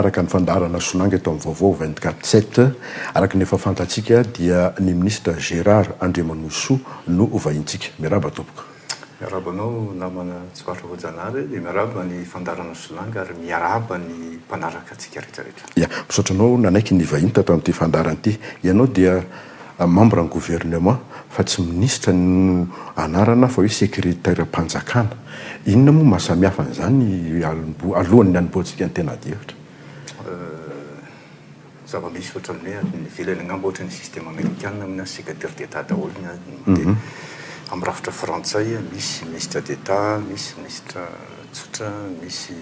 Araka ny fandaharana Sonanga eto amin'ny Vaovao vingt quatre sept, araka ny efa fantatsika dia ny minisitra Gérard Andriamanohisoa no hovahintsika. Miarahaba tompoko. Miarahaba anao namana Tsiparitra Voajanahary dia miarahaba ny fandaharana Sonanga ary miarahaba ny mpanaraka antsika rehetra rehetra. Ya, misaotra anao nanaiky ny vahiny tato amin'ity fandaharana ity. Ianao dia Membran'ny gouvernement fa tsy minisitra no anarana fa hoe sekreteram-panjakana. Inona moa mahasamihafa an'izany alohan'ny hanombohantsika ny tena adihevitra? Zava-misy ohatran'ny hoe any ivelany angamba ohatra ny système amerikana amin'io any secretaire d'Etat daholo ny any. Dia amin'ny rafitra frantsay misy ministre d'Etat, misy ministra tsotra, misy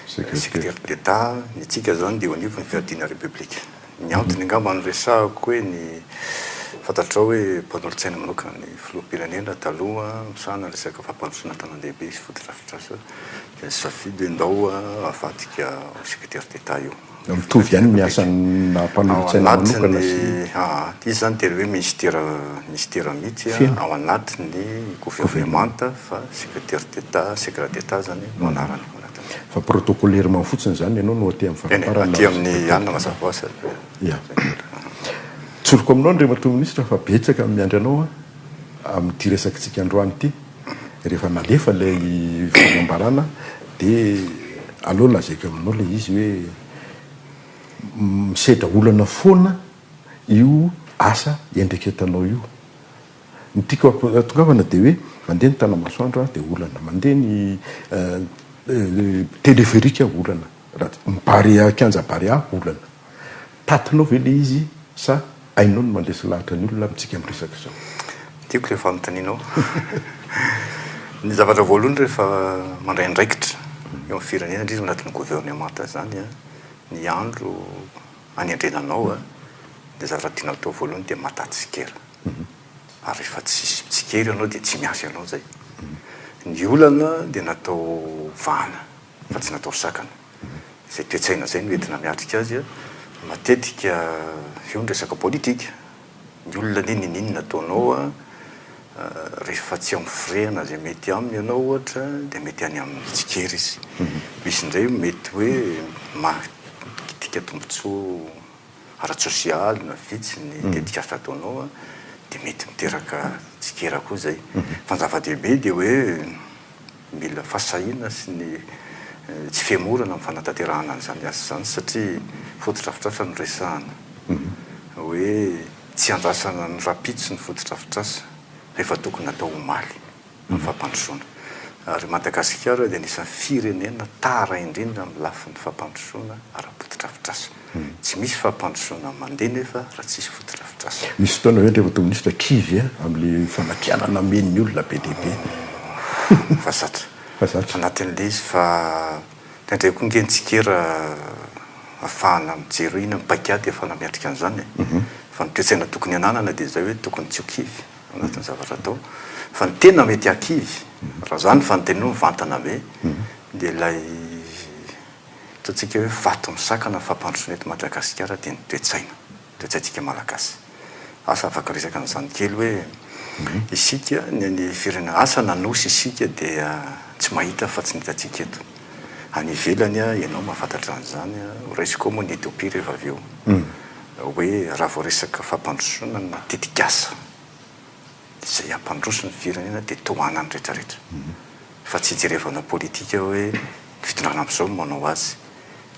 secretaire d'Etat. Ny antsika izany dia eo anivon'ny fiadiana repoblika. Ny antony angamba niresahako hoe ny fantatrao hoe mpanolotsaina manokana ny filoham-pirenena taloha misahana ny resaka fampandrosoana an-tanàn-dehibe sy fotodrafitrasa dia nisafidy hoe ndao avadika ho secretaire d'Etat io. Mitovy ihany ny asan'ny maha mpanolotsaina manokana sy ny. Aa, izy izany tena hoe minisitera minisitera mihitsy ao anatin'ny governemanta fa secretaire d'Etat, secret d'Etat izany no anarany. Fa protocolairement fotsiny izany ianao no aty amin'ny faraparany. Aty amin'ny anona mazava ho azy. Ia. Tsoriko aminao Andriamatoa Minisitra fa betsaka ny miandry anao amin'ity resakantsika androany ity. Rehefa nalefa ilay fanambarana dia aleo lazaiko aminao ilay izy hoe misedra olana foana io asa iandraiketanao io. Ny tiako hahatongavana dia hoe mandeha ny tana-masoandro an, dia olana, mandeha ny teleferika an, olana, ny barea, kianja barea olana. Tatinao ve ilay izy sa hainao ny mandresy lahatra ny olona amintsika miresaka izao? Tiako ilay fanontanianao. Ny zavatra voalohany rehefa mandray andraikitra eo amin'ny firenena, indrindra ao anatin'ny governemanta izany an, ny andro anendrena anao an, dia zavatra tianao atao voalohany dia mataha tsikera. ary rehefa tsisy mitsikera ianao dia tsy miasa ianao zay. Ny olana dia natao vahana fa tsy natao sakana. Izay toe-tsaina izay no entina miatrika azy. Matetika eo ny resaka politika. Ny olona anie niniana ataonao rehefa tsy amin'ny firehana izay mety aminy ianao ohatra dia mety any amin'ny mitsikera izy. Misy indray mety hoe maha kitika tombotsoa. ara-tsosialy na vitsy ny tetikasa ataonao dia mety miteraka tsikera koa izay. Fa ny zava-dehibe dia hoe mila fahasahiana sy ny tsy fihemorana amin'ny fanatanterahana an'izany asa izany satria fotodrafitrasa no resahana. Hoe tsy iandrasana ny rahampitso ny fotodrafitrasa rehefa tokony atao omaly. ny fampandrosoana. Ary Madagasikara dia anisan'ny firenena tara indrindra amin'ny lafiny fampandrosoana ara-potodrafitrasa. Tsy misy fampandrosoana mandeha nefa raha tsy hisy fotodrafitrasa. Misy fotoana ve Andriamatoa Minisitra kivy amin'ilay famakiana namen' ny olona be dia be? Fa zatra. Fa zatra. Anatin'ilay izy fa indraindray koa ange ny tsikera ahafahana mijery hoe inona ny paikady ahafahana miatrika an'izany e. Fa ny toe-tsaina tokony hananana dia izay hoe tokony tsy ho kivy. anatin'ny zavatra atao fa ny tena mety hakivy raha zany fanonteniana hoe mivantana be dia ilay ataontsika hoe vato misakana fampandrosoana eto Madagasikara dia ny toe-tsaina, toe-tsaintsika Malagasy. Asa afaka resaka an'izany kely hoe isika ny any firenena asa na nosy isika dia tsy mahita fa tsy ny hitantsika eto. Any ivelany ianao mahafantatra an'izany, ho raisiko ao moa ny Ethiopie rehefa avy eo. hoe raha vao resaka fampandrosoana no tetikasa izay hampandroso ny firenena dia tohana ny retraretra fa tsy hijerevana politika hoe ny fitondrana amzao no manao azy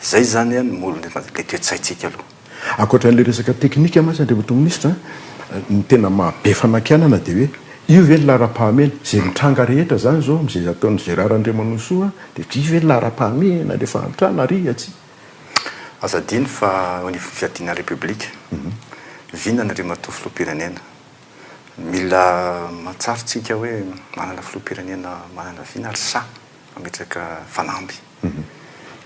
izay izany an ny molony le toetsaintsika aloha. Ankoatran'ilay resaka teknika mantsy Andriamatoa Minisitra, ny tena maha be fanakianana dia hoe io ve ny laharam-pahamehana? Izay mitranga rehetra izany izao amin'izay ataon'i Gérard Andriamanosoa dia io ve ny laharam-pahamehana, ilay fahantrana ary atsy? Aza adino fa eo anivon'ny fiadiana ny Repoblika, vinany ry matoa Filoham-pirenena. Mila mahatsiaro tsika hoe manana Filoham-pirenena manana vina ary sahy mametraka fanamby.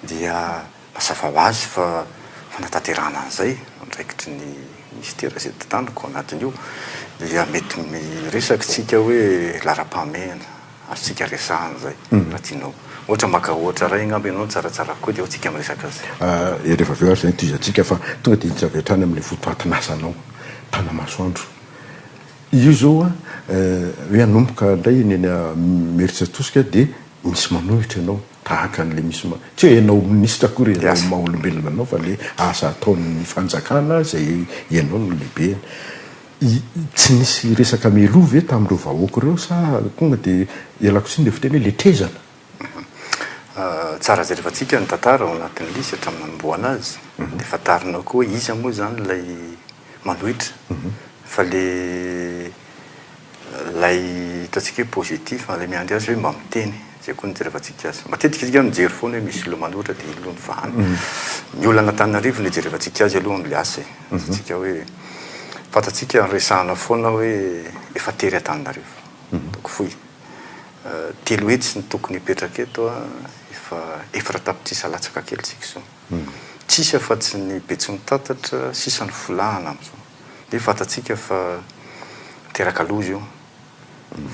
Dia mazava ho azy fa fanatanterahana an'izay andraikitry ny Minisitera izay tantanako ao anatin'io dia mety miresaka tsika hoe laharam-pahamehana. Azontsika resahana izay raha tianao. Ohatra maka ohatra iray angamba ianao nitsaratsara koa dia eo tsika miresaka azy. Dia rehefa avy eo ary izay no tohizantsika fa tonga dia hiditra avy hatrany amin'ilay votoatin'asanao tanamasoandro. Io izao hoe hanomboka indray eny eny Imerintsiatosika dia misy manohitra ianao tahaka an'ilay misy ma, tsy hoe ianao minisitra akory ianao maha olombelona anao fa ilay asa ataon'ny fanjakana izay ianao no lehibeny. I, tsy nisy resaka mialoha ve tamin'ireo vahoaka ireo sa tonga dia ialako tsiny ilay fiteny hoe letrezana? Tsara jerevantsika ny tantara ao anatin'ilay izy hatramin'ny nanombohana azy dia fantarina koa hoe iza moa izany ilay manohitra fa ilay ilay ataontsika hoe positif ilay miandry azy hoe mba miteny. Izay koa no ijerevantsika azy. Matetika isika mijery foana hoe misy lomano ohatra dia iny aloha no vahana. Ny olona an'Antananarivo no ijerevantsika azy aloha amin'ny asa e. Azontsika hoe fantatsika resahana foana hoe efa tery Antananarivo. Donc fohy. Telo hetsy no tokony hipetraka eto a, efa efatra tapitrisa latsaka kely isika izao. Tsy hisy afa-tsy ny Betsimitatatra sisa no folahana amin'izao. Dia fantatsika fa teraka loza io.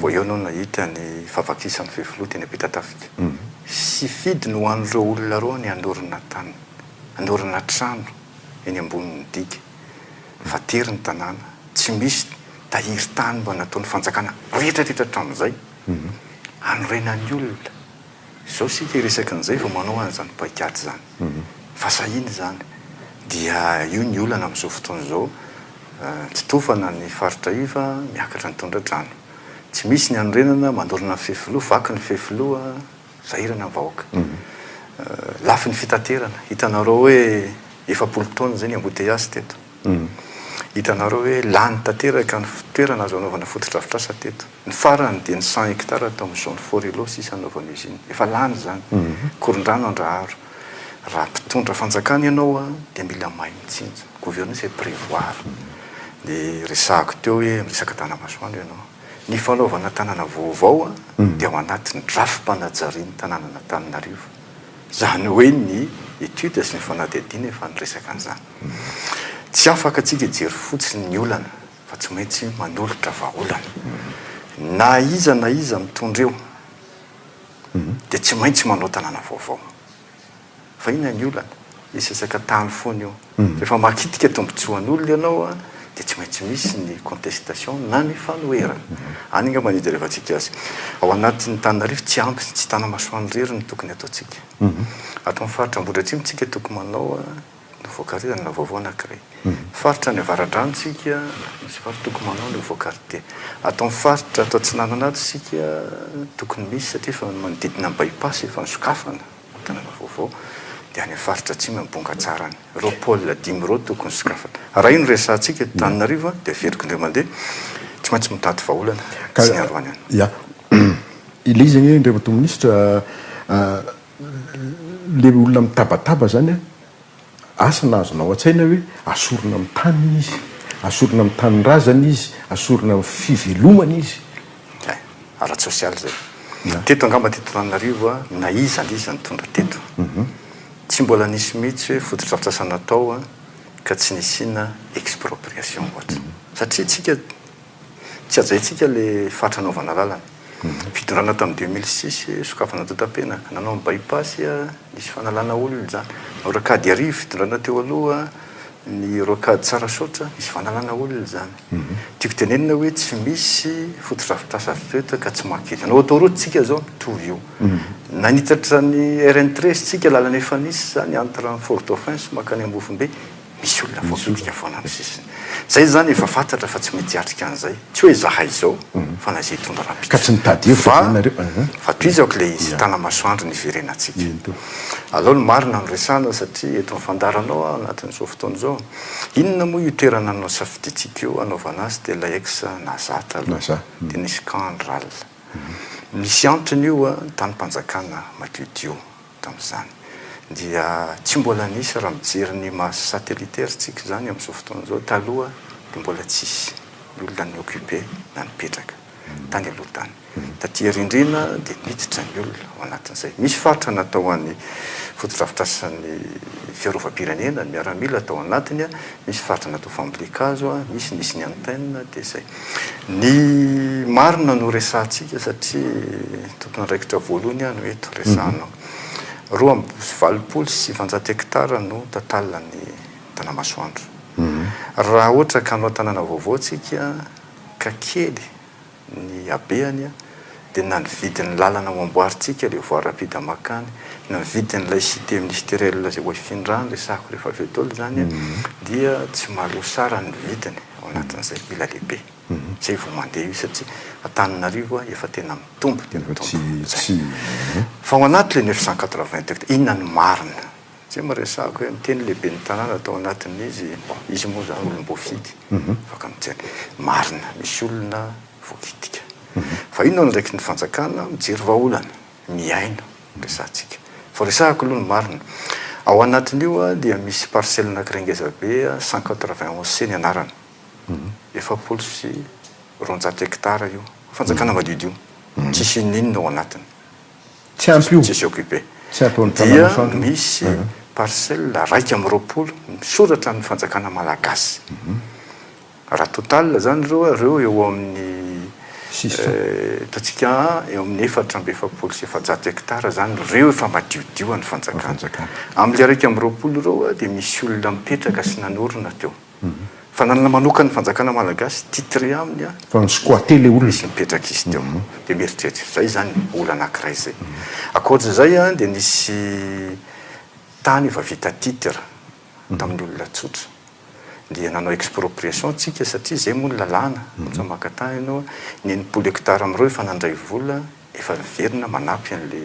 Vao eo no nahita ny fahavakisan'ny fefiloha teny Ampitatafika. Sy fidy no an'ireo olona roa ny hanorina tany, hanorina trano eny ambonin'ny diga. Fa tery ny tanàna, tsy misy tahiry tany mba nataon'ny fanjakana rehetrarehetra hatramin'izay hanorenan'ny olona. Izao isika hiresaka an'izay vao manao an'izany paikady izany. Fa sahiny izany. Dia io ny olana amin'izao fotoana izao, tsy tofana ny faritra iva, miakatra ny tondra-drano. Tsy misy ny hanorenana, mandorana ny fefiloha, vaky ny fefiloha, sahirana ny vahoaka. Lafo ny fitaterana. Hitanareo hoe efapolo taona izay ny embouteillages teto. Hitanareo hoe lany tanteraka ny toerana azo anaovana fotodrafitrasa teto. Ny farany dia ny cent hectares tao amin'ny zone fort Ilot sisa anaovana usine. Efa lany izany. Korondrano Andraharo. Raha mpitondra fanjakana ianao dia mila mahay mitsinjo. Gouverner c'est prévoir. Dia resahako teo hoe miresaka tanamasoandro ianao. Ny fanaovana tanàna vaovao dia ao anatin'ny drafi-panajarian'ny tanànan'Antananarivo. Izany hoe ny études sy ny fanadihadiana efa niresaka an'izany. Tsy afaka tsika hijery fotsiny ny olana fa tsy maintsy manolotra vahaolana. Na iza na iza mitondra eo dia tsy maintsy manao tanàna vaovao. Fa inona ny olana? Hisesaka tany foana io. Rehefa makitika tombontsoan'olona ianao dia tsy maintsy misy ny contestation na ny fanoherana. Any angamba no hijerevantsika azy. Ao anatin'ny tananarivo tsy ampy sy tsy tanamasoandro irery no tokony ataontsika. Ato amin'ny faritra Ambohidratrimo tsika tokony manao no voakarinana raha vaovao anankiray. Faritra any avaradrano isika, misy faritra tokony manao an'io voakaritie. Ato amin'ny faritra ato atsinanana ato isika, tokony misy satria efa manodidina ny bypass efa nisokafana ny tanàna vaovao, dia any amin'ny faritra atsimo any Bongatsara any. Ireo pôle dimy ireo tokony sokafana. Raha io no resahantsika eto Antananarivo dia averiko indray mandeha, tsy maintsy mitady vahaolana tsy nialoha any. Ilay izy anie Andriamatoa Minisitra, ilay olona mitabataba izany an, asa na azonao an-tsaina hoe asorina amin'ny taniny izy, asorina amin'ny tanindrazany izy, asorina amin'ny fivelomany izy. Hay, ara-tsosialy izay. Teto angamba teto Antananarivo, na iza na iza nitondra teto, tsy mbola nisy mihitsy hoe fotodrafitrasa natao ka tsy nisiana expropriation ohatra. Satria isika. Tsy hajaintsika ilay fatra anaovana lalana. Fidorana tamin'ny deux mille six, sokafana antontam-piainana. Nanao ny bypass, nisy fanalana olona izany. Ny rocade Iarivo, fidorana teo aloha, ny rocade Tsarasaotra, nisy fanalana olona izany. Tiako tenenina hoe tsy misy fotodrafitrasa avy teo ka tsy mankery. Anao autoroute tsika izao, mitovy io. Nanitatra ny RN treize tsika, lalana efa nisy izany entre ny Fort-Dauphin sy mankany Ambovombe. Misy olona voakitika foana ny sisa. Izay izany efa fantatra fa tsy mety hiatrika an'izay. Tsy hoe izahay izao, fa na izay hitondra rahampitso. Ka tsy nitady hevitra izany nareo eh? Fa tohizo ako ilay izy, tanamasoandro ny hiverenantsika. Alao ny marina no resahana satria eto ny fandaharanao aho anatin'izao fotoana izao. Inona moa io toerana nosafidiantsika io hanaovana azy dia ilay ex Naza taloha, dia nisy camp ny ralina. Misy antony io an, ny tanim-panjakana madio dio. tamin'izany dia tsy mbola nisy raha mijery ny maha satellitaire tsika izany amin'izao fotoana izao, taloha dia mbola tsisy ny olona ni occuper na nipetraka tany aloha tany, taty arindrina dia niditra ny olona ao anatin'izay, misy faritra natao any fotodrafitrasan'ny fiarovam-pirenena, ny miaramila tao anatiny, misy faritra natao fambolen-kazo, misy nisy ny antenne dia izay. Ny marina no resahantsika satria tompon'andraikitra voalohany aho no eto, resahanao. Roa amby valopolo sy sivanjato hekitara no tantalan'ny Tanamasoandro. Raha ohatra ka hanao tanàna vaovao isika ka kely ny habeany dia na ny vidin'ny lalana ho amboarintsika ilay voie rapide mankany, na ny vidin'ilay cité ministérielle izay ho hifindràna, resahako rehefa avy eo daholo izany, dia tsy maharoa sara ny vidiny. Anatin'ny izay ila lehibe izay vao mandeha io satria Antananarivo efa tena mitombo dia mitombo. Fa ao anaty le neuf cent quatre vingt hectares inona no marina? Satria miresahako hoe miteny lehiben'ny tanàna tao anatin'izy, bon izy moa zany olom-boafidy afaka miteny. Marina misy olona voakitika. Fa io no andraikitry ny fanjakana mijery vahaolana. mihaino ny resahantsika. Vao resahako aloha ny marina. Ao anatin'io dia misy parcelle anakiray ngeza be cent quatre-vingt-onze ce ny anarany. Efapolo sy roanjato hectares io. Fanjakana madiodio. Tsisy inon'inona ao anatiny. Tsy ampy io. Tsisy occupé. Tsy ataon'ny tanàna centre. Dia misy parcelle raika amby roapolo misoratra amin'ny fanjakana malagasy. Raha total izany ireo ireo eo amin'ny hitantsika eo amin'ny efatra amby efapolo sy efajato hectares izany ireo efa madiodio an'ny fanjakana. Amin'ny iraika amby roapolo ireo dia misy olona mipetraka sy nanorina teo. Fa nanana manokan'ny fanjakana malagasy titré aminy fa mi-squatter ilay olona. Nisy nipetraka izy teo. Dia mieritreritra. Izay izany olana anankiray izay. Ankoatra izay dia nisy tany efa vita titre. tamin'ny olona tsotra dia nanao expropriation tsika satria zay moa ny lalàna tsy maka tany ianao ny enimpolo hectare amin'ireo efa nandray vola efa niverina manampy an'le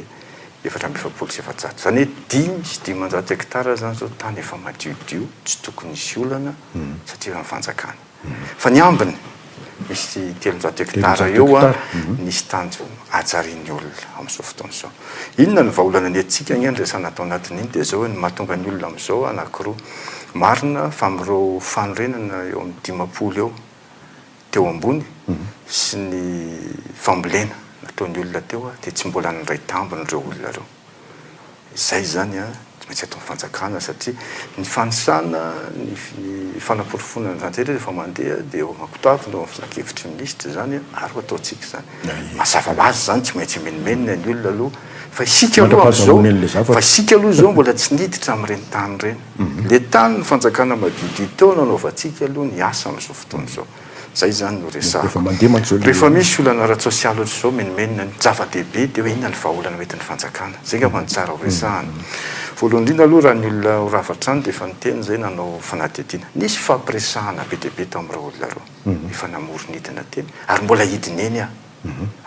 efatra amby efapolo sy efajato izany hoe dimy sy dimanjato hectare zany zao tany efa madiodio tsy tokony hisy olana satria efa ny fanjakana Fa ny ambiny, misy telonjato hektara eo nisy tanjo hajarian'ny olona amin'izao fotoana izao. Inona no vahaolana nentintsika anie niresana tao anatin'iny dia izao hoe ny mahatonga ny olona amin'izao anankiroa. Marina fa amin'ireo fanorenana eo amin'ny dimampolo eo teo ambony sy ny fambolena nataon'ny olona teo dia tsy mbola niray tambiny ireo olona ireo. Izay izany an, tsy maintsy ataon'ny fanjakana satria ny fanisana, ny fanaporofoana ny zan-drehetra rehefa mandeha dia eo aman-kotaviny, eo amin'ny filankevitry ny minisitra izany an, ary ho ataontsika izany. Mazava ho azy izany, tsy maintsy amenomenina ny olona aloha fa isika aloha amin'izao, fa isika aloha izao mbola tsy niditra amin'ireny tany ireny. Ilay tany ny fanjakana madiodio teo no anaovantsika aloha ny asa amin'izao fotoana izao. Zay zany no resahako. Rehefa misy olana ara-tsosialy ohatry zao menomenona ny zava-dehibe de hoe inona ny vahaolana hoentin'ny fanjakana. Zay ngamba no tsara ho resahana. Voalohany indrindra aloha raha ny olona ho rava hatrany de efa niteny zay nanao fanadihadiana. Nisy hifampiresahana be dia be tamin'ireo olona roa efa namory ny hidina teny ary mbola hidina eny aho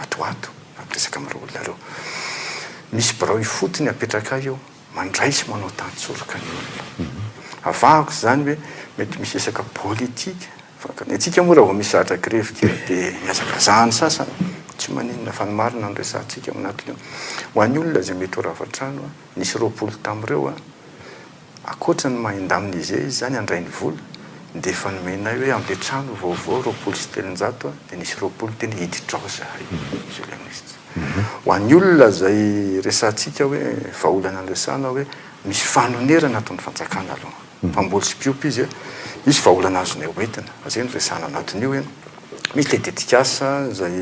ato ho ato fa miresaka amin'ireo olona ireo. Misy birao ifotony apetraka ahy eo. mandray sy manao tantsoroka ny olona. Avahako izany hoe mety misy resaka politika fa ny antsika moa raha vao misy zavatra grevy kely dia mihazakazaha ny sasany, tsy maninona fa ny marina no resahantsika ao anatin'io. Ho an'ny olona izay mety ho rava trano, nisy roapolo tamin'ireo, ankoatra ny maha indemnisé izy izany handray ny vola dia efa nomenay hoe amby trano vaovao roapolo sy telonjato dia nisy roapolo teny hiditra ao izahay, journaliste. Ho an'ny olona izay resahantsika hoe vahaolana niresahana hoe misy fanonerana ato ny fanjakana aloha. Mpamboly sy mpiompy izy e. Misy vahaolana azonay hoentina. Fa izay no resahana anatin'io e. Misy ilay tetikasa izay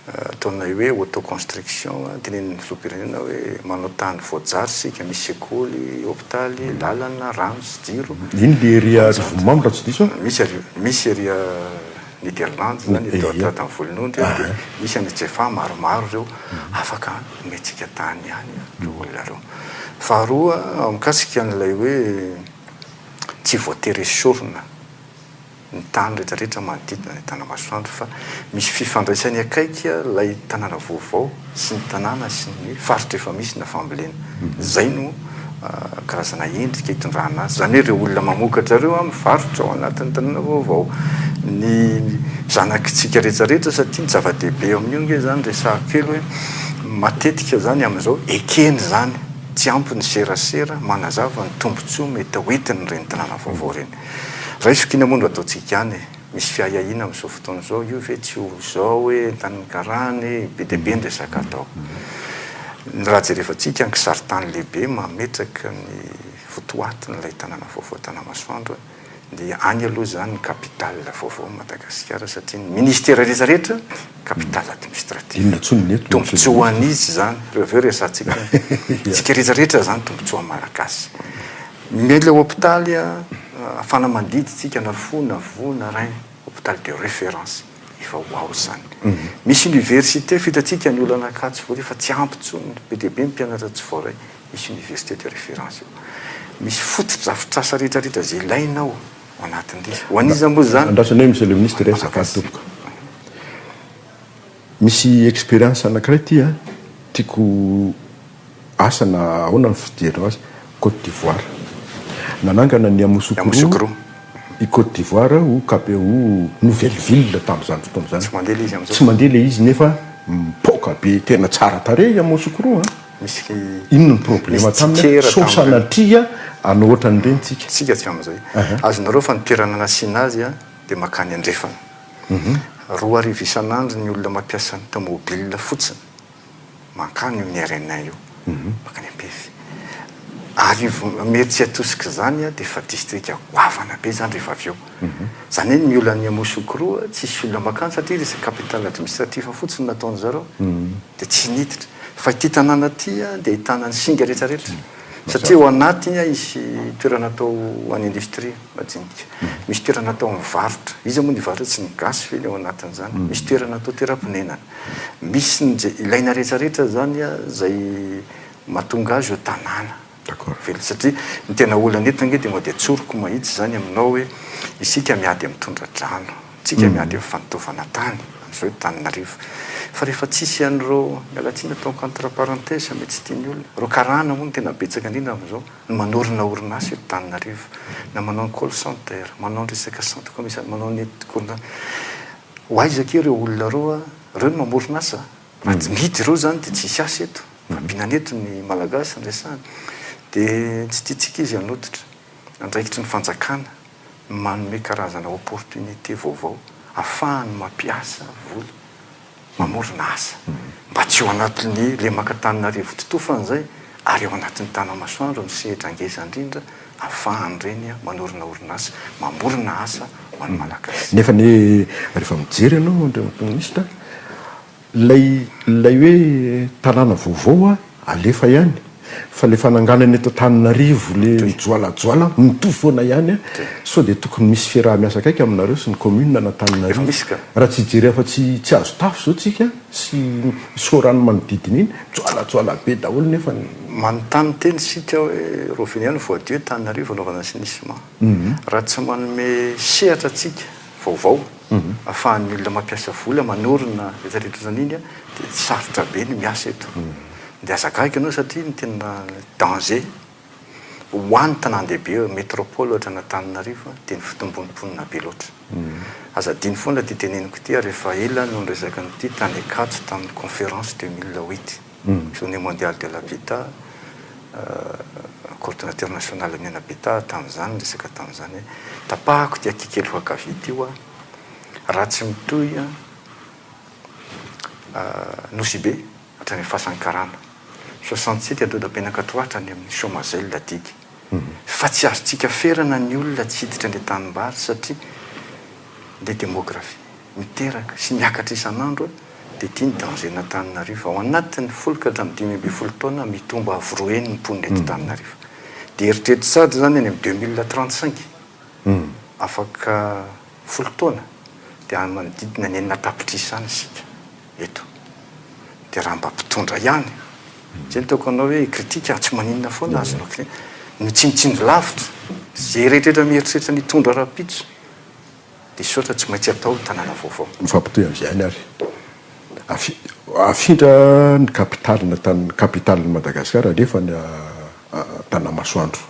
ataonay hoe auto-construction, tenenin'ny filoham-pirenena hoe manao tany voajary isika, misy sekoly, hopitaly, lalana, rano sy jiro. Iny ilay ery Arivonimamo raha tsy diso aho? Misy ery, misy ery. Nederlandy zany atao atao tany volonondry de misy any Jefa maromaro reo afaka omentsika tany ihany reo olona reo. Faharoa mikasika an'ilay hoe tsy voatery esorina ny tany rehetra rehetra manodidina ny tanamasoandro fa misy fifandraisany akaiky ilay tanàna vaovao sy ny tanàna sy ny faritra efa misy na fambolena. Izay no karazana endrika itondrana azy. Izany hoe ireo olona mamokatra ireo mivarotra ao anatin'ny tanàna vaovao. Ny zanakitsika rehetra rehetra satria ny zava-dehibe eo amin'io ange izany resahiko kely hoe matetika izany amin'izao ekena izany, tsy ampy ny serasera manazava ny tombontsoa mety ho entin'ireny tanàna vaovao ireny. Raisiko iny moa no ataontsika any e! Misy fiahiahiana amin'izao fotoana izao, io ve tsy ho izao hoe entan'ny karana e, be dia be ny resaka atao. Ny raha jerevantsika ny kisaritany lehibe mametraka ny votoatin'ilay tanàna vaovao Tanamasoandro dia any aloha izany ny capital vaovaon'i Madagasikara satria ny ministera rehetra rehetra capital administratif. Tombotsoa ho an'iza izany? Ireo avy eo resahantsika hoe antsika rehetra rehetra izany tombotsoan'ny Malagasy. Ny le hopitaly afana mandidy tsika na fo na voa na rein hopitaly de reference efa ho ao zany misy université fo itatsika ny olana Ankatso vory fa tsy ampy tsony be de be ny mpianatra tsy voaray misy université de reference eo misy foto drafitrasa rehetra rehetra ze ilaina ao anatin le ho aniza mo zany andrasana eo monsieur le ministre resaka atopoka. Misy experience anakiray ity a, tiako asa na ahoana ny fijery azy, Côte d'Ivoire. Nanangana ny Yamoussoukro i Côte d'Ivoire ho cap ho nouvelle ville tamin'izany fotoana izany. Tsy mandeha le izy amzao. Tsy mandeha le izy nefa mipoaka be tena tsara tarehy Yamoussoukro a. Misy Inona ny problema taminy a, sao sanatria hanao ohatran'ireny tsika. Tsika hatramin'izay. Azonareo fa ny toerana nasiana azy a dia makany andrefana. Roa arivo isan'andro ny olona mampiasa ny taomobilina fotsiny mankany io Nerena io, mankany Ampefy. Arivo, mety tsy atosika izany dia efa distrika goavana be izany rehefa avy eo. Izany hoe ny olan'ny Yamoussoukro tsisy olona mankany satria izy dia capitale administrative fotsiny no nataon-dry zareo dia tsy niditra. Fa ity tanàna ity dia ahitana ny singa rehetra rehetra satria ao anatiny hisy toerana atao ho an'ny industrie. Majinika. Misy toerana atao amin'ny varotra. Iza moa no hivarotra? Tsy ny gasy ve ny ao anatin'izany? Misy toerana atao toeram-ponenana. Misy ny izay ilaina rehetra rehetra izany izay mahatonga azy ho tanàna. D'accord. Velona. Satria ny tena olana eto ange dia mody atsoriko mahitsy izany aminao hoe isika miady amin'ny tondra-drano. Isika miady amin'ny fandoavana tany. Amin'izao eto Tananarivo. Fa rehefa tsisy an'ireo, miala tsiny ataoko entre parenthèses mety tsy tian'ny olona, ireo karana moa no tena betsaka indrindra amin'izao. ny manorina orinasa eto Tananarivo, na manao ny call center, manao ny resaka centre commercial, manao ny gourna, ho aiza akia ireo olona roa ireo no mamoron asa? Raha tsy mihidy ireo izany dia tsy hisy asa eto. Fabiana eto ny Malagasy no resahana. Dia tsy tiantsika izy hanototra. Andraikitry ny fanjakana ny manome karazana opportunité vaovao, hahafahany mampiasa vola. mamorona asa mba tsy ho anatin'ny lemaka Antananarivo totofana izay ary ao anatin'ny Tanamasoandro ny sehatra ngeza indrindra afahan'ireny manorina orinasa mamorona asa ho an'ny Malagasy. Nefa anie rehefa mijery ianao Andriamatoa Minisitra, ilay ilay hoe tanàna vaovao an, Alefa ihany fa le fananganana eto Antananarivo le mijoalajoala mitovy foana ihany a! Sao dia tokony misy fiaraha-miasa akaiky aminareo sy ny commune an'Antananarivo? Raha tsy hijery afa-tsy tsy azo tafo izao tsika sy Soarano manodidina iny, mijoalajoala be daholo nefa ny. Manontany tena isika hoe Roviniana voadio eto Antananarivo anaovana assainissement? Raha tsy manome sehatra tsika vaovao afahan'ny olona mampiasa vola manorina etsy ary eroa izany iny dia sarotra be ny miasa eto dia aza gaga ianao satria ny tena danger ho any tanàn-dehibe hoe metropole ohatra an'Antananarivo dia ny fitombon'ny mponina be loatra aza adino foana ity teneniko ity ary efa ela no niresaka an'ity tany Ankatso tamin'ny conférence deux mille huit Journée Mondiale de l'Habitat, Coordinateur National Mena Habitat tamin'izany niresaka tamin'izany hoe tapahako ity aty kely voankavia ity hoa, raha tsy mitohy Nosibe hatrany amin'ny fasan'ny karana, soixante site dodabenakatro hatrany amin'ny Chomazelle adidy, fa tsy azontsika ferana ny olona tsy hiditra any an-tanimbary satria le démographie. miteraka sy miakatra isan'andro dia ity ny dangean'Antananarivo. Ao anatin'ny folo ka hatramin'ny dimy ambin'ny folo taona, mitombo avo roa heny ny mponina eto Antananarivo. Dia eritrereto sahady izany any amin'ny deux mille trente cinq, afaka folo taona, dia any manodidina ny enina tapitrisa any isika eto. Dia raha mba mpitondra ihany, izay no tiako hanao hoe hi-critique aho, tsy maninona foana aza no critique, ny tsinontsinjo lavitra, izay rehetra mieritreritra ny hitondra rahampitso, Dia sotra tsy maintsy atao ny tanàna vaovao. Mifampitohy amin'izany ary afindra ny kapitalina kapitalin'i Madagasikara alefany Antanamasoandro.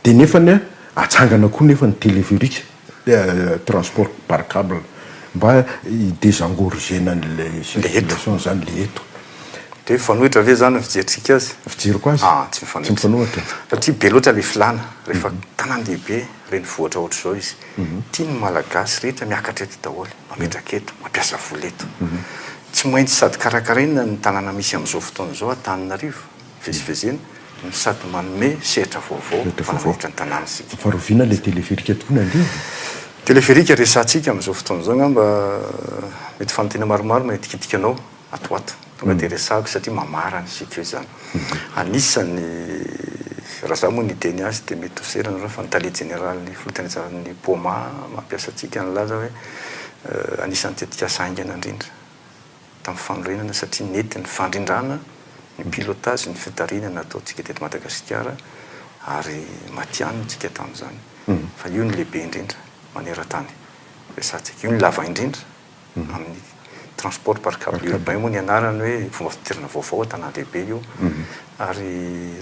Dia nefany atsangana koa nefa ny téléphérique transport par cable mba hi désengorger an'ilay circulation izany ilay eto. Dia mifanohitra ve izany ny fijerintsika azy? Fijeriko azy? Aah, tsy mifanohitra. Satria be loatra ilay filàna rehefa tanàn-dehibe. Renivohitra ohatr'izao izy. Tiany ny Malagasy rehetra miakatra eto daholo, mametraka eto, mampiasa vola eto. Tsy maintsy sady karakaraina ny tanàna misy amin'izao fotoana izao, Antananarivo, vezivezena, no sady manome sehatra vaovao mpanamboatra ny tanàna isika. Fa rovina ilay téléphérique tokoa nandeha e! Téléphérique resahantsika amin'izao fotoana izao angamba mety fanontaniana maromaro no hentikintika anao. ato ato. Tonga dia resahiko satria mamarana ny sicu zany. Anisany, raha za moa ny hiteny azy dia mety ho sera nareo fa ny tale jeneralin'ny folotenajahara'ny Poma mampiasa antsika nilaza hoe anisan'ny tetikasa haingana indrindra tamin'ny fanorenana satria nety ny fandrindrana ny pilotage, ny fitarihana nataontsika teto Madagasikara ary matihanina isika tamin'izany fa io no lehibe indrindra manerantany resahantsika. Io no lava indrindra. Amin'ny transport par cable urbain moa ny anarany hoe fomba fidirana vaovao an-tanàn-dehibe io ary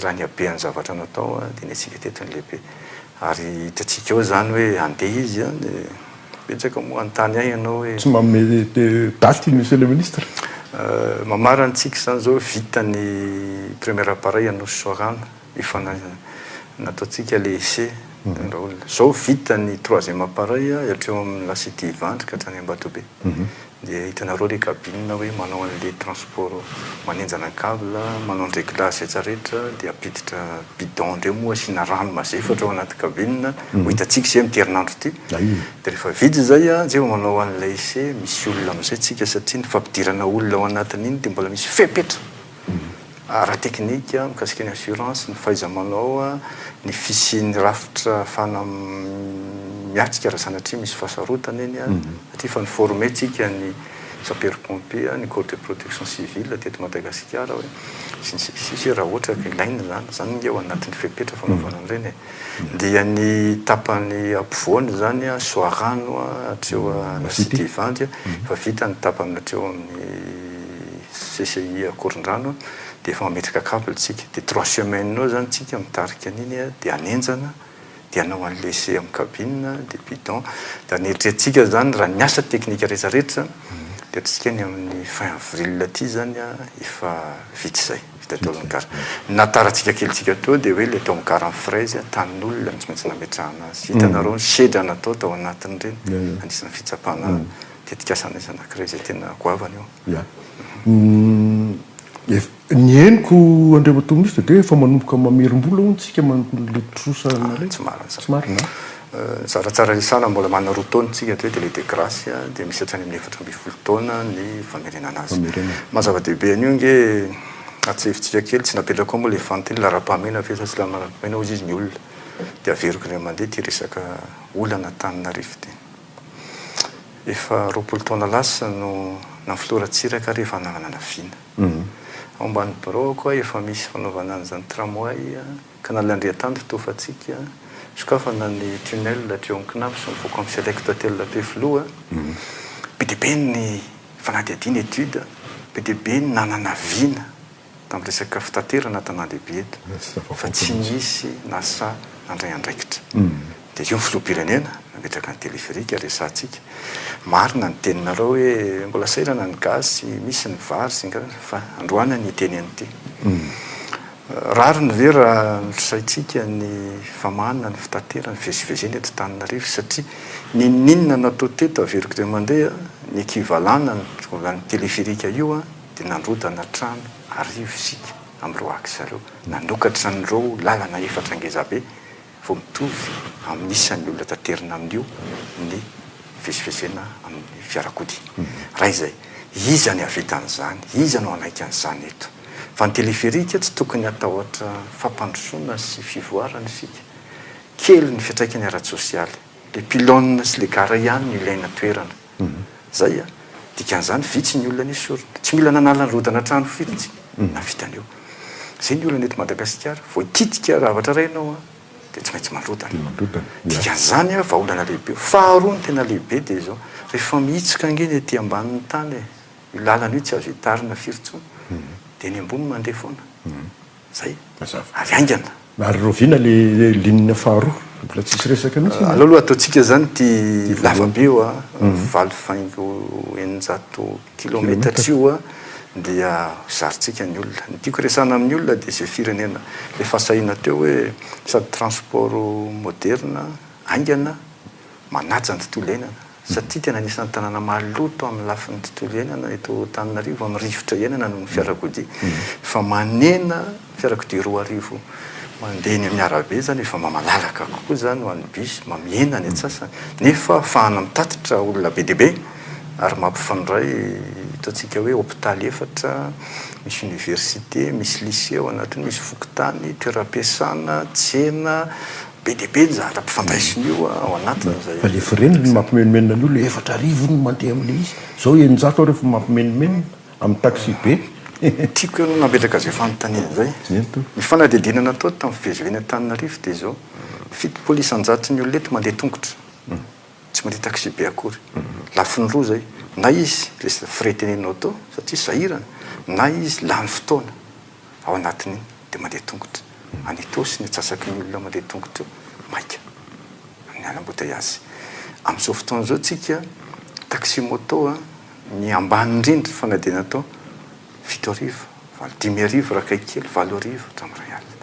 raha ny habean'ny zavatra natao dia nentsika teto ny lehibe ary hitantsika eo izany hoe handeha izy an, dia betsaka moa hanontany ahy ianao hoe. Tsy manome daty ny Monsieur le Ministre? Mamarana antsika izany izao hoe vita ny premier appareil Anosy Soarano. Efa nataontsika le essai daholo. Zao vita ny troisième appareil hatreo amin'ny la cité Ivandry ka hatrany Ambatobe. Dia hitanareo le cabine hoe manao an'le transport manenjana ny cable, manao ny réglage rehetra rehetra dia ampiditra bidon ndreo moa asiana rano mazefatra ao anaty cabine ho hitantsika izay amty herinandro ty. Dia rehefa vita izay dia vao manao an'ilay essai misy olona amizay tsika satria ny fampidirana olona ao anatin'iny dia mbola misy fepetra. ara-teknika mikasika ny assurance, ny fahaiza-manao, ny fisian'ny rafitra ahafahana miatrika raha sanatria misy fahasarotana eny satria efa ni-former tsika ny sapeurs pompiers, ny corps de protection civile teto Madagasikara hoe sy ny sisa sy ny sisa hoe raha ohatra ka ilaina izany, izany ange ao anatin'ny fepetra fanaovana an'ireny e! dia ny tapany ampovoany izany an, Soarano an, hatreo an, Anosidivandy an, efa vita ny tapany hatreo amin'ny. CCI Ankorondrano dia efa mametraka cable tsika dia trois semaines eo zany tsika mitarika an'iny dia hanenjana dia hanao an'i laisser amin'ny cabine dia bidon dia ny eritreretintsika zany raha ny asa teknika rehetra rehetra dia ataontsika ny amin'ny fin avril aty zany efa vita izay vita daholo ny gara ny nahatarantsika kely tsika teo dia hoe le tao amin'ny gara ny fraise tanin'olona no tsy maintsy nametrahana azy hitanareo ny sedra natao tao anatin'ireny anisan'ny fitsapana tetikasa anazy anankiray izay tena goavana io. Ya. Ny henoko andriamatoa minisitra dia efa manomboka mamerim-bola hono isika manontolo ilay trosa anareo. Tsy marina izany. Tsy marina an. Zara tsara anisana mbola manana roa taona isika hatreto dia ilay de grace dia misy hatrany amin'ny efatra ambin'ny folo taona ny famerenana azy. Famerenana. Maha zava-dehibe an'io ange atsahivitsika kely, tsy napetrako ao moa ilay fanontaniana, laharam-pahamehana ve sa tsy laharam-pahamehana hozy izy ny olona dia averiko indray mandeha ity resaka olana Antananarivo ity. Efa roapolo taona lasa no na filoha Ratsiraka ary efa nanana na vina. Ao ambany biraoko aho efa misy fanaovana an'izany tramway ka na ilay Andriantandro toa fatsika, sokafana ny tunnel hatreo amin'ny Cnaps sy mivoaka amin'ny Select Hotel Ampefiloha. Be dia be ny fanadihadiana, études, be dia be ny nanana vina. tamin'ny resaka fitaterana an-tanàn-dehibe eto fa tsy nisy nasa nandray andraikitra. Dia io ny filoham-pirenena nametraka ny téléphérique resahantsika. Marina ny teninareo hoe mbola sahirana ny gasy, misy ny vary sy ny karazany fa androany ny hiteny an'ity. Rariny ve raha nolosaintsika ny famahana ny fitaterana, fivezivezena eto Antananarivo satria n'inon'inona natao teto averiko indray mandeha ny équivalent-n'ny téléphérique io an! dia nandrodana trano arivo isika amin'ireo axe ireo. Nanokatra an'ireo lalana efatra ngezabe vao mitovy amin'ny isan'ny olona taterina amin'io ny fivezivezena amin'ny fiarakodia. Raha izay, iza ny hahavita an'izany? Iza no hanaiky an'izany eto? Fa ny téléphérique tsy tokony hatahotra fampandrosoana sy fivoarana isika. Kely ny fiantraikany ara-tsosialy. Ilay pylone sy ilay gara ihany no ilaina toerana. Zay an! Dikan'izany vitsy ny olona nesorina. Tsy mila nanala ny rodana trano firy intsy nahavitany eo. Zay ny olana eto Madagasikara. Vao hikitika zavatra iray ianao an! Dia tsy maintsy mandrodana. Dikan'izany an! Vahaolana lehibe io. Faharoa ny tena lehibe dia izao. Rehefa mihitsika ange ny ety ambanin'ny tany e! Io lalana io tsy azo hitarina firy intsony. Dia ny ambony mandeha foana. Zay mazava. Avy haingana. Na ry Roviana le ligne faharoa mbola tsisy resaka mihitsy iny a. Aleo aloha ataontsika zany ity lavabe io a, valo faingo eninjato kilometatra io a, dia zarintsika ny olona. Ny tiako resahana amin'ny olona dia izay firenena efa sahina teo hoe sady transport moderne, haingana, Manaja ny tontolo iainana, satria tena anisan'ny tanàna maloto amin'ny lafiny tontolo iainana eto Antananarivo amin'ny rivotra iainana noho ny fiarakodia. Efa manena fiarakodia roa arivo mandeha eny amin'ny arabe izany, efa malalaka kokoa izany ho an'ny bus, mamihena ny antsasany, nefa ahafahana mitatitra olona be dia be ary mampifandray ataontsika hoe hopitaly efatra, misy oniversite, misy lycée ao anatiny, misy fokontany, toeram-piasana, tsena, Be dia be ny zavatra ampifandraisin'io ao anatiny izay. Fa le frais-ny no mampimenomenona an'io, le efatra arivo io no mandeha amin'ilay izy. Zao eninjato arivo no mampimenomenona amin'ny taxi be. Tiako ianao nametraka izay fanontaniana izay. Ny fanadihadiana natao tamin'ny fiveziven'ny Antananarivo dia izao, fitopolo isan-jato ny olona eto mandeha tongotra, tsy mandeha taxi be akory. Lafiny roa izay, na izy, le frais tenenanao teo, satria sahirana, na izy lany fotoana. ao anatin'iny dia mandeha tongotra any Itaosy ny atsasaky ny olona mandeha tongotra io maika amin'ny ala ambotaiazy amin'izao fotoana izao tsika taxi moto ny ambany indrindra fa na dia natao fito arivo valo dimy arivo raha akaiky kely valo arivo hatramin'ny iray alina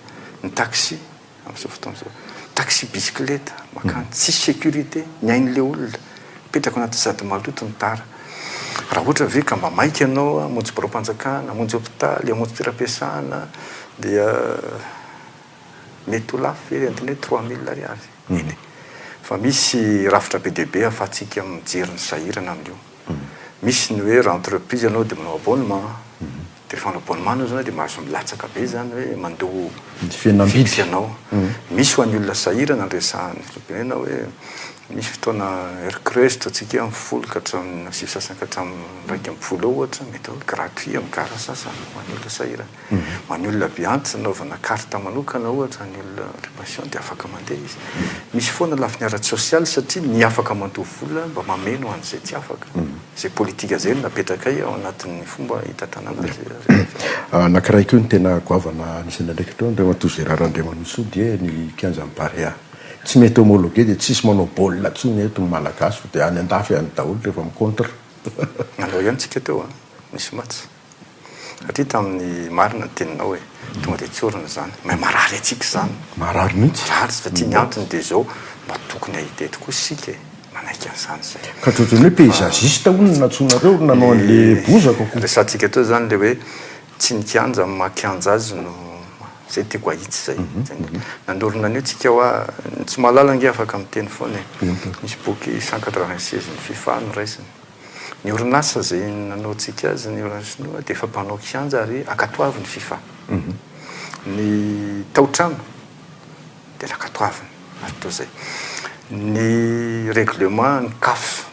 ny taxi amin'izao fotoana izao. Taxi bisikileta mankany, tsisy sécurité ny ain'ilay olona, mipetraka ao anaty sady maloto ny tara. Raha ohatra ve ka mba maika ianao hamonjy biraom-panjakana, hamonjy hopitaly, hamonjy toeram-piasana dia mety ho lafo ve entiny hoe trois mille ariary? Nini. Fa misy rafitra be dia be ahafahantsika mijery ny sahirana amin'io. Misy ny hoe raha entreprise ianao dia manao abonnement. Telephone abonnement zany de mahazo milatsaka be zany hoe mandoa fihenam-bidy anao. Misy ho an'ny olona sahirana ny resahana. Tenenina hoe misy fotoana heure creuse ataontsika hoe folo ka hatramin'ny na sivy sasany ka hatramin'ny iraika ambin'ny folo eo ohatra mety hoe gratuit amin'ny gara sasany ho an'ny olona sahirana. Ho an'ny olona be antitra anaovana carte manokana ohatra ny olona le patient de afaka mandeha izy. Misy foana lafiny ara-tsosialy satria ny afaka mandoa vola mba mameno an'izay tsy afaka. Izay politika izay no napetrakay ao anatin'ny fomba hitantanana izay resaka. Anankiray koa ny tena goavana anisan'ny andraikitra ao, Andriamatoa Gérard Andriamanisoa dia ny kianjan'ny Barea. Tsy mety homologuer dia tsisy manao baolina intsony eto ny Malagasy fa dia any an-dafy any daholo rehefa mi-contre. Nandao ihany tsika teo an! Nisy match. Satria tamin'ny marina ny teninao e, tonga dia tsy orina izany. Mais marary antsika izany. Marary mihitsy. Marary satria ny antony dia izao, mba tokony hahita eto koa isika e, manaiky an'izany isika. Ka dia ohatran'ny hoe paysagiste hono no nantsoinareo ry nanao an'ilay bozaka ko. Resahantsika teo izany ilay hoe tsy ny kianja amin'ny maha kianja azy no, izay tiako hahitsy izay. Nanorina an'io tsika hoa, ny tsy mahalala ange afaka miteny foana e. Misy boky cent quatre-vingt-seize ny fifa noraisiny. Ny orinasa izay nanaontsika azy ny orange chinois dia efa mpanao kianja ary ankatoavin'ny fifa. Ny tao-trano dia nakatoavina ary toa izay. Ny règlement ny caf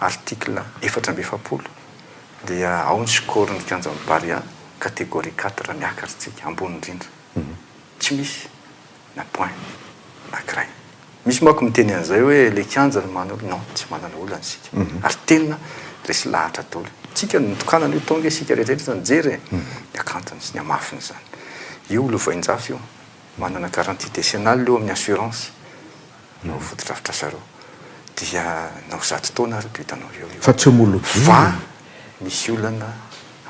article efatra amby efapolo dia ao ny score ny kianjan'ny Barea catégorie quatre miakatra isika ambony indrindra. Tsy misy. na point na graine misy manko miteny an'izay hoe le kianja no manana olana non tsy manana olana isika ary tena resy lahatra daholo tsika no nitokanana io tonga isika rehetrarehetra nijery e ny akantony sy ny hamafiny izany io lovainjafy io manana garantie décennale eo amin'ny assurance no fotodrafitrasareo dia na ho zato taona ary bitanao eo io fa tsy homologuer fa misy olana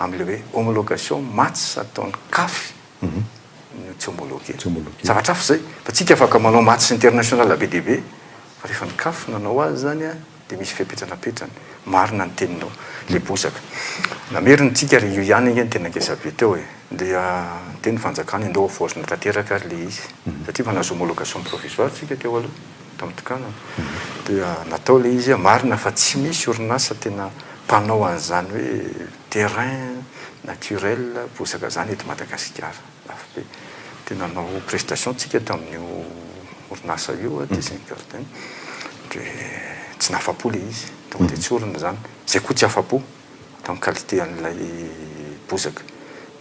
amin'ilay hoe homologation maths ataon'ny caf tsy homologué. Zavatra hafa izay. Fa tsika afaka manao matchs international be dia be fa rehefa ny caf nanao azy izany an dia misy fepetra napetrany. Marina ny teninao. Ilay bozaka. Namerina tsika ary io ihany ange no tena ngeza be teo e. Dia niteny ny fanjakana indao havaozina tanteraka ary ilay izy. Satria efa nahazo homologation provisoire tsika teo aloha tamin'ny tokanana. Dia natao ilay izy an. Marina fa tsy misy orinasa tena mpanao an'izany hoe. Terrain naturel bozaka izany eto Madagasikara. Lafo be. Dia nanao prestation tsika tamin'io orinasa io Design Garden. Dia tsy nahafa-po ilay izy. Tonga dia tsy orina izany. Izay koa tsy afa-po tamin'ny qualité an'ilay bozaka.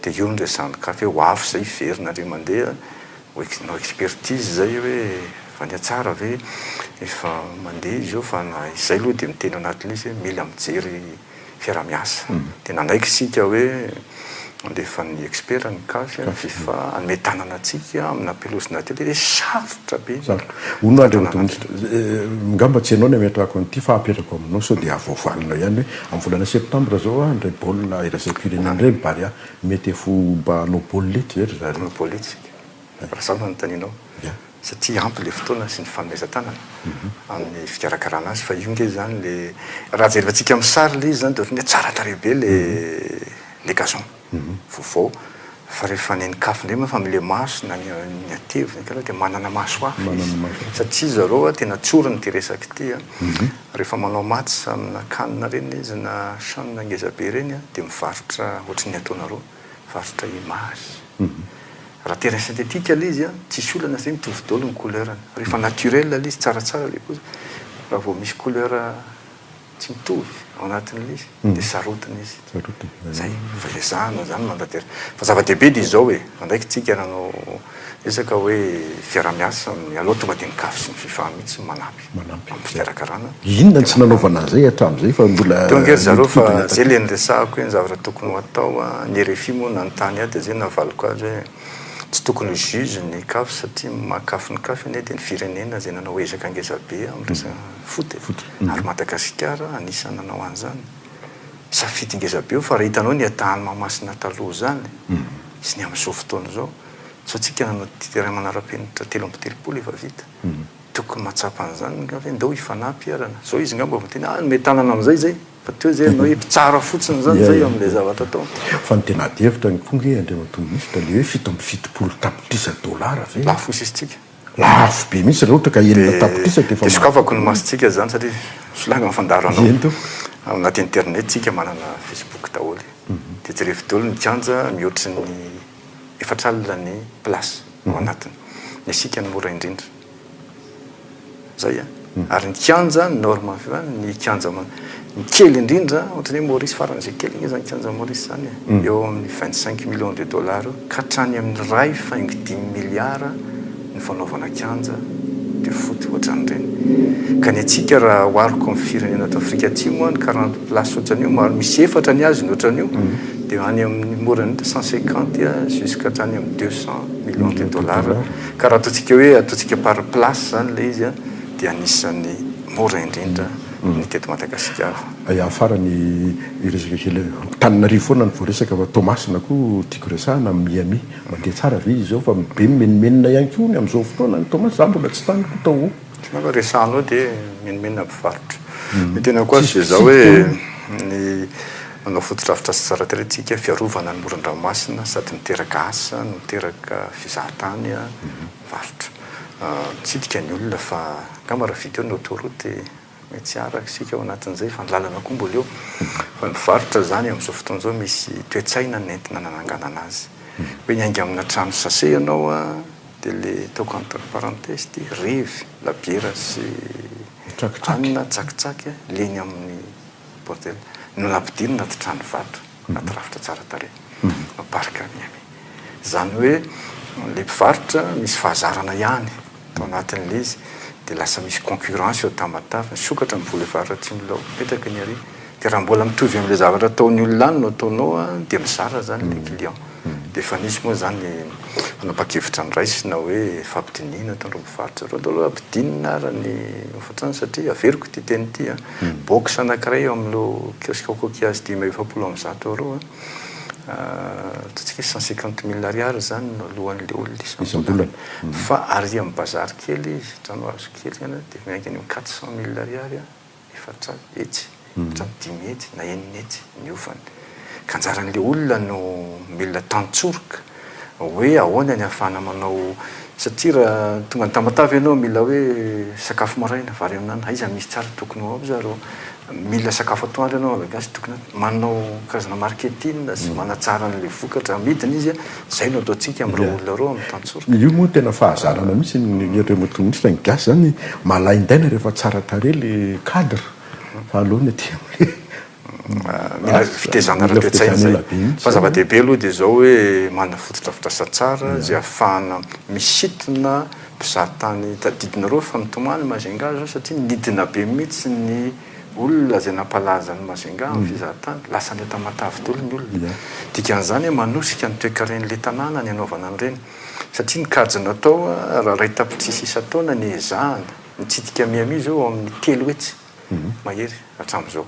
Dia io no resahan'i Kafy hoe ho avy izay hiverinareo mandeha ho ex, hanao expertise izay hoe efa nihatsara ve, efa mandeha izy io fa na izay aloha dia miteny anatin'io izy hoe mila mijery. fiaraha-miasa. Dia nanaiky isika hoe handefan'ny expert ny caf, fifa, hanome tanana antsika amina am-pelozina telo dia sarotra be ny fitantanana. Ngamba tsy ianao no ametrahako an'ity fa apetrako aminao sao dia avoavalinao ihany hoe amin'ny volana septambra izao an, indray baolina iraisam-pirenena indray ny Barea, mety ho mba hanao baolina etsy ve ry zareo? Hanao baolina etsy isika. Raha izao no anontanianao, satria ampy ilay fotoana sy ny fanomezan-tanana amin'ny fikarakarana azy, fa io ange izany ilay, raha jerevantsika amin'ny sary ilay izy izany dia ohatran'ny hoe tsara tarehy be ilay gazon vaovao, fa rehefa nenen-kafo indray moa fa amin'ilay maso na ny ateviny angamba dia manana maso hafa izy, satria zareo an, tena tsoriny ity resaka ity an, rehefa manao match amina canne ireny ilay izy na chaine ngezabe ireny dia mivarotra ohatran'ny ataonareo. varotra image. Raha terrain synthétique ilay izy an, tsisy olana satria mitovy daholo ny couleur-ny. Rehefa naturel ilay izy, tsaratsara ilay paoziny. Raha vao misy couleur tsy mitovy ao anatin'ilay izy, dia sarotiny izy. Izay. Fa ilay izaho noho izany mandatera. Fa zava-dehibe dia izao e, andraikitsika nanao resaka hoe fiaraha-miasa, mialoha tonga dia ny Caf sy ny Fifa mihitsy no manampy. manampy amin'ny fikarakarana. Inona no tsy nanaovana an'izay hatramin'izay fa mbola Tonga ery zareo fa miditidina izay ilay niresahako hoe ny zavatra tokony ho atao a, ny rfi moa nanontany ahy dia izay navaliko azy hoe tsy tokony ho juge ny caf satria makafy ny caf anie dia ny firenena izay nanao ezaka ngeza be amin'ny resaka foot e, ary Madagasikara anisan'ny nanao an'izany safidy ngeza be io fa raha hitanao ny Etat Allemand masina taloha izany sy ny amin'izao fotoana izao, sao tsika nanao terrain manara-penitra telo amby telopolo efa vita. Tokony mahatsapa an'izany nga ve ndao hifanahy mpiharana. Zao izy ngamba vao tena hanome tanana amzay zay fa teo zay enao hoe mpitsara fotsiny zany zay eo amle zavatra ataony. Fa ny tena ady hevitra ny koa nge Andriamatoa Minisitra le hoe fito amby fitopolo tapitrisa dollars ve? Lafo ny sisintsika. Lafo be mihitsy raha ohatra ka enina tapitrisa dia efa mahazo. Dia sokafako ny masontsika izany satria solanga ny fandaro anao. Eny tompoko. Ao anaty internet isika manana facebook daholo. Dia jerevy daholo ny kianja mihoatry ny. efa tralina ny place ao anatiny dia isika no mora indrindra zay a ary ny kianja norme ny kianja ny kely indrindra ohatran'ny hoe Maurice farany izay kely anie zany kianja Maurice zany e eo amin'ny vingt cinq millions de dollars eo ka hatrany amin'ny iray faingo dimy milliards ny fanaovana kianja de foot ohatran'ireny. Ka ny antsika raha ohariko amin'ny firenena ato Afrika Atsimo an, ny quarante places ohatran'io maro misy efatra ny azy ny ohatran'io de any amin'ny more than cent cinquante jusqu'à hatrany amin'ny deux cent millions de dollars. Ka raha ataontsika hoe ataontsika par place zany ilay izy an dia anisan'ny mora indrindra ny teto Madagasikara. Ya, farany hiresaka kely. Antananarivo foana no voaresaka fa Toamasina koa tiako resahina amin'ny Miami. Mandeha tsara ve izao fa be mimenomenona ihany koa ny amin'izao fotoana any Thomas? Za mbola tsy tany koa tao o. Otrany hoe resano eo dia mimenomenona mpivarotra. Ny tena koa azy dia zao hoe ny manao fotodrafitrasa tsara tarehy tsika, fiarovana ny moron-dranomasina sady miteraka asa no miteraka fizahantany an, varotra. Mitsidika ny olona fa angamba raha vita eo ny autoroute dia. Mety tsy araka isika ao anatin'izay fa ny lalana koa mbola eo. Fa ny varotra izany amin'izao fotoana izao misy toe-tsaina nentina nananganana azy. Hoe hiainga amina trano sase ianao dia ilay ataoko entre parenthèses ity, revy, labiera sy hanina, tsakitsaky, leny amin'ny bordel no nampidirina anaty trano vato. anaty rafitra tsara tarehy no parc Miami. Izany hoe ilay mpivarotra misy fahazarana ihany tao anatin'ilay izy dia lasa misy concurrence eo tamatave, misokatra ny vola eo faritra atsimo ilay ao mipetraka ny aria. Dia raha mbola mitovy amin'ilay zavatra ataon'ny olona any no ataonao dia mizara izany ilay client. Dia efa nisy moa izany ny fanapahan-kevitra noraisina hoe fampidinihina eto amin'ireo mpivarotra ireo. Aleo aloha ampidinina ara ny hofantrano satria averiko ity teny ity an, box anankiray eo amin'ireo kiosque au coquillage dimy amby efapolo amby zato eur an, ataontsika hoe cent cinquante mille ariary izany no aloan'ilay olona isam-bolana, fa arian'ny bazary kely izy, trano hazo kely izany an, dia miankina eo amin'ny quatre cent mille ariary an. efatra hetsy, efatra amby dimy hetsy na enina hetsy ny ofany. Ka anjaran'ilay olona no mila tantsoroka hoe ahoana ny ahafahana manao satria raha tonga any Tamatave ianao mila hoe sakafo maraina, vary amin'anana, aiza no misy tsara tokony ho ao za rô? Mila sakafo atoandro ianao, aiza no tokony manao karazana marketing sy manatsara an'ilay vokatra amidiny izy a. Zay no ataontsika am reo olona reo am tantsoroka. Io moa tena fahazarana mihitsy ny ry remote communiste ny gasy zany malaindaina rehefa tsara tarehy le cadre fa aleony aty amle Mila fitezana ara toetsaina zay. Fa zava dehibe aloha dia izao hoe manana fotodrafitrasa tsara izay ahafahana misintona mpizahatany tadidinareo fa mitomany Majunga zao satria nidina be mihitsy ny Olona izay nampalaza an'i Majunga amin'ny fizahantany, lasa an'Entamatavy daholo ny olona. Dikan'izany hoe manosika ny toekaren'ilay tanàna ny hanaovana an'ireny, satria ny kajy natao raha iray tapitrisa isan-taona ny ezahana nitsidika Miami izao eo amin'ny telo hetsy mahery hatramin'izao.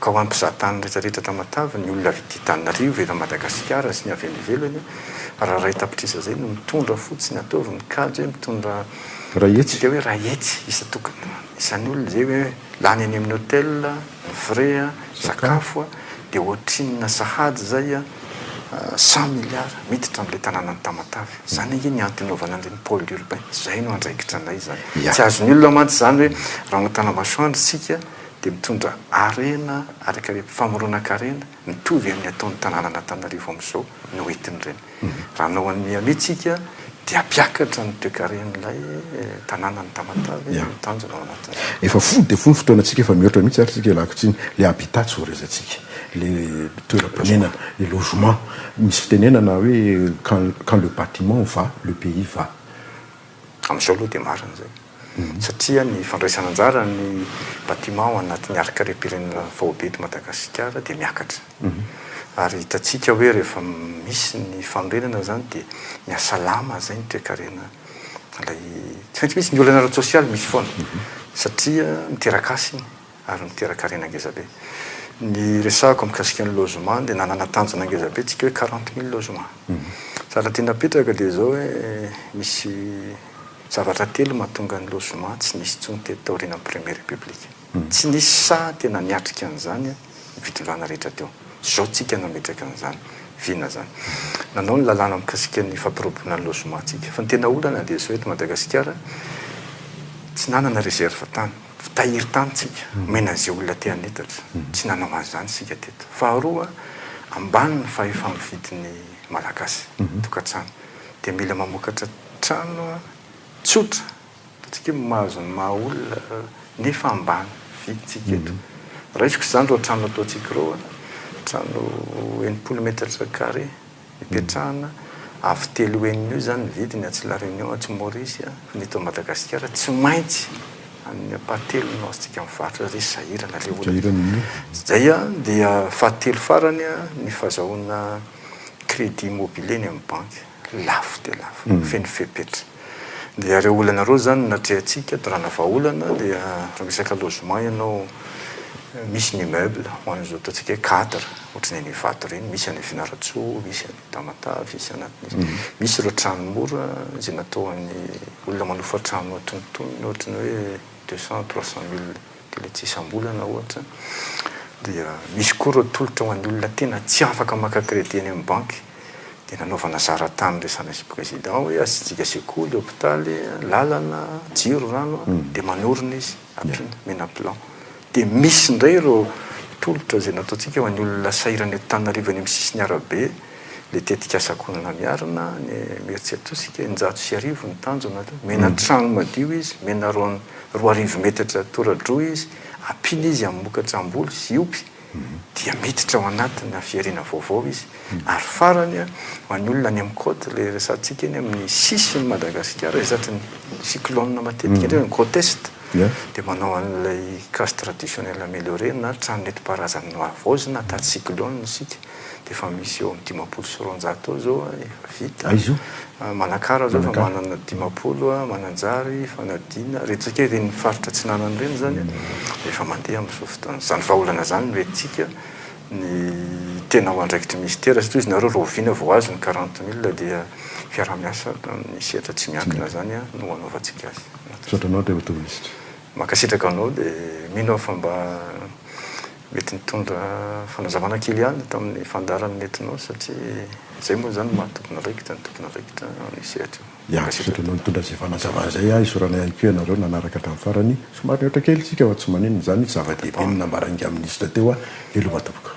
Ka ho an'ny mpizahantany rehetrarehetra eto Amatavy, ny olona avy ety Antananarivo, eto Madagasikara sy ny avy any ivelany, raha iray tapitrisa izay no mitondra fotsiny, ataovy ny kajy hoe mitondra, midika hoe iray hetsy isan-tokony. Izany olona izay hoe lany any amin'ny hotel, ny frais, ny sakafo dia ohatrinona sahady izay cent milliards miditra amin'ilay tanànan'i Tamatave. Izany ange ny antony hanaovana an'ireny pôle urbain. Izay no andraikitra anay izany. Tsy azon'ny olona mantsy izany hoe raha manao tanambasoandro isika dia mitondra harena, famoronankarena. Mitovy amin'ny ataon'ny tanànan'Antananarivo amin'izao ny ho entin'ireny. Raha hanao an'i Miami isika dia hampiakatra ny toekaren'ilay tanànan'i Tamatave ny tanjona ao anatin'izany. Efa fohy dia fohy ny fotoanantsika, efa mihoatra mihitsy ary isika ialako tsiny. Ilay habitat tsy voarezantsika, ilay toeram-ponenana, ilay logement. Misy fitenenana hoe quand le bâtiment va, le pays va. Amin'izao aloha dia marina izay. satria ny fandraisana anjara ny batiment ao anatin'ny harikarem-pirenena faobe eto Madagasikara dia miakatra. Ary hitantsika hoe rehefa misy ny fanorenana izany dia mihasalama izay ny toekarena ilay, tsy maintsy misy ny olana ara-tsosialy, misy foana, satria miteraka asa iny. ary niteraka harena ngezabe. Ny resahako mikasika ny logement dia nanana tanjona ngezabe tsika hoe quarante mille logement. Zavatra tiana apetraka dia izao hoe misy zavatra telo mahatonga ny logement tsy nisy intsony teto taorianan'ny première république. Tsy nisy saha tena niatrika an'izany ny fitondrana rehetra teo. Izao tsika nametraka an'izany vina izany. Nanao ny lalàna mikasika ny fampirobona ny logement tsika. Fa ny tena olana dia izao eto Madagasikara tsy nanana réserve tany. Tsy tahiry tany tsika, omena an'izay olona te hanetatra. Tsy nanao an'izany isika teto. Faharoa, ambany ny fahefa-mividin'ny Malagasy, tokantrano. Dia mila mamokatra trano tsotra, ataontsika hoe mahazo ny maha olona, nefa ambany vidintsika eto. Raisiko izany ireo trano ataontsika ireo, trano enimpolo metatra carré, Ipetrahana avo telo henina eo izany ny vidiny atsy La Réunion, atsy Maurice, ny eto Madagasikara tsy maintsy amin'ny ampahatelony no azontsika mivarotra ry sahirana le olona. Zay dia fahatelo farany ny fazahoana crédit immobilier eny amin'ny banky. Lafo dia lafo. Feno fepetra. Dia ireo olana ireo izany no natrehantsika toerana vahaolana dia raha resaka logement ianao misy ny immeuble ho an'izao ataontsika hoe cadre ohatran'ny any Ivato ireny, misy any Fianarantsoa, misy any Tamatave, misy any anatin'izay. Misy ireo trano mora izay natao ho an'ny olona manofa trano antonontonony ohatran'ny hoe deux cent, trois cent mille. Tena tsy isam-bolana ohatra dia misy koa ireo tolotra ho an'ny olona tena tsy afaka maka credit eny amin'ny banky dia nanaovana zara tany resana sy président hoe asiantsika sekoly, hopitaly, lalana, jiro, rano dia manorina izy ampiana omena plan. Dia misy indray ireo tolotra izay nataontsika ho an'ny olona sahirana eto Tananarive any amin'ny sisiny arabe Ilay tetikasa Kolona Miarina, ny Mercetosika, eninjato sy arivo ny tanjona teo. Omena trano madio izy, omena roa arivo metatra tora-droa izy, ampiana izy amin'ny mokatra am-boly sy opy, dia miditra ao anatina fihariana vaovao izy. Ary farany, ho an'ny olona any amin'ny côte, ilay resahantsika eny amin'ny sisin'i Madagasikara, izay tratry ny cyclone matetika indrindra, ny côte est, dia manao an'ilay case traditionnelle améliorée na trano nentim-paharazana nohavaozina taty cyclone isika. dia efa misy eo amin'ny dimampolo sy roanjato eo izao efa vita. Aiza io? Manakara izao efa manana dimampolo, Mananjary, Fanadina, ireny tsika ireny faritra atsinanana ireny izany dia efa mandeha amin'izao fotoana izao. Izany vahaolana izany no entintsika ny tena ho andraikitry ny Minisitera satria hoy izy nareo rahoviana vao azo ny quarante mille dia fiaraha-miasa amin'ny sehatra tsy miankina izany no hanaovantsika azy. Misaotra anao Andriamatoa Minisitra. Mankasitraka anao dia mino aho fa mba Mety nitondra fanazavana kely ihany tamin'ny fandaharan'ny netinao satria izay moa izany no maha tompon'andraikitra ny tompon'andraikitra amin'io sehatra io. Hiankizotra noho nitondra izay fanazavana izay aho, isaorana ihany koa ianareo nanaraka hatramin'ny farany, somary nihoatra kely isika fa tsy maninona izany, zava-dehibe ny nambaran'ingahy minisitra teo aho, veloma tompoko.